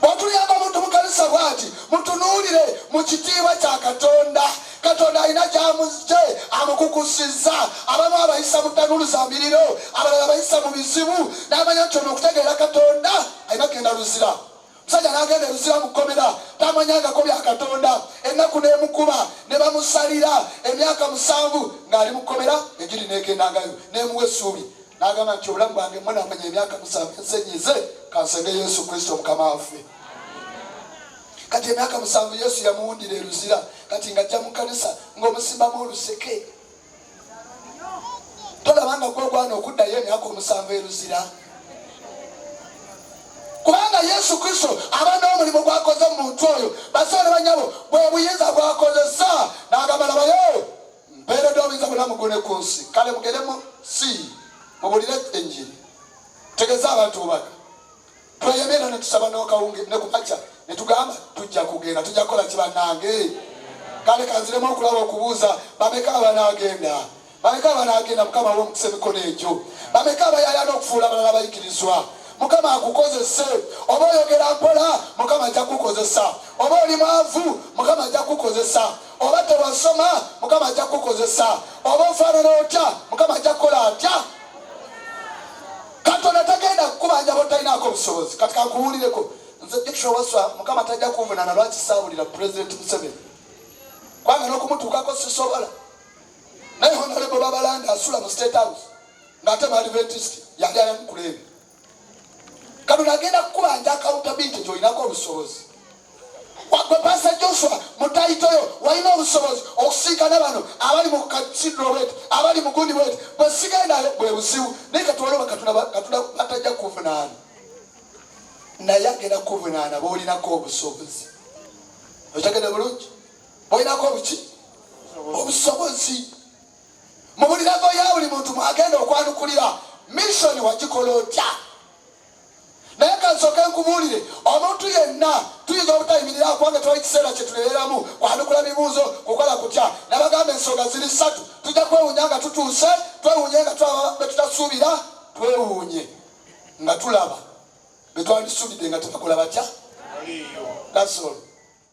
bw'otuyamba muntu mu kanisa bwati mutunuulire mu kitiibwa kya katonda katonda alina gyamuzze amukukusizza abamu abayisa mu tanulu za miriro abalala bayisa mu bizibu n'amanya nti ono okutegeera katonda alina kugenda luzira musajja nagenda ebizira mukomera tamanyangako bya katonda ennaku nemukuba ne bamusalira emyaka musanvu ng'ali mukomera egiri nekendangayo nemuwa essuubi n'agamba nti obulamu bwange mwenamanya emyaka musanvu ensenyize kansenge yesu kristo mukama waffe kati emyaka musanvu yesu yamuwundira eruzira kati nga ajja mu kanisa ng'omusimbamu oluseke tolaba nga gwogwana okuddayo emyaka omusanvu eruzira kubanga yesu kristo aba n'omulimu gwakoze mu muntu oyo basoole banyabo bwe buyinza bwakozesa n'agamba labayo mpeeredde obuyinza bwonna mu ggulu ne ku nsi kale mugende mu si mubulire enjiri tegeza abantu obubaka tweyeme era netusaba nokawunge ne ku makya ne tugamba tujja kugenda tujja kukola ki bannange kale kanziremu okulaba okubuuza bameka abanaagenda bameka abanaagenda mukama wa omukisa emikono egyo bameka abayayana okufuula abalala abayigirizwa mukama akukozese oba oyogera mpola mukama ajja kukozesa oba oli mwavu mukama ajja kukozesa oba tewasoma mukama ajja kukukozesa oba ofaanana otya mukama ajja kukola atya katonda tagenda kukubanja botalinaako busobozi kati kakuwulireko nze dikisho waswa mukama tajja kunvunana lwaki saawulira pulezidenti museveni kubanga n'okumutuukako sisobola naye honalebo babalanda asula mu state house ng'ate bali betist yali ayamukuleebi kano nagenda kukubanja akawuta bintu gyolinako obusobozi wagwe pasa joshua mutayitoyo walina obusobozi okusinkana bano abali mu kasidro wet abali mugundi wet bwesigendayo bwe buzibu naye katwaloba katuna batajja kuvunaana naye agenda kuvunaana bolinako obusobozi okyagenda bulungi bolinako obuki obusobozi mu buli levo ya buli muntu mwagenda okwanukulira misoni wagikola otya naye kansooke nkubuulire omuntu yenna tuyinza obutayimirira kubanga twali kiseera kye tuleeramu kwanukula bibuuzo kukola kutya nabagamba ensonga ziri ssatu tujja kwewuunya nga tutuuse twewuunye nga tulaba be tutasuubira twewuunye nga tulaba be twandisuubidde nga tebakola batya gasolo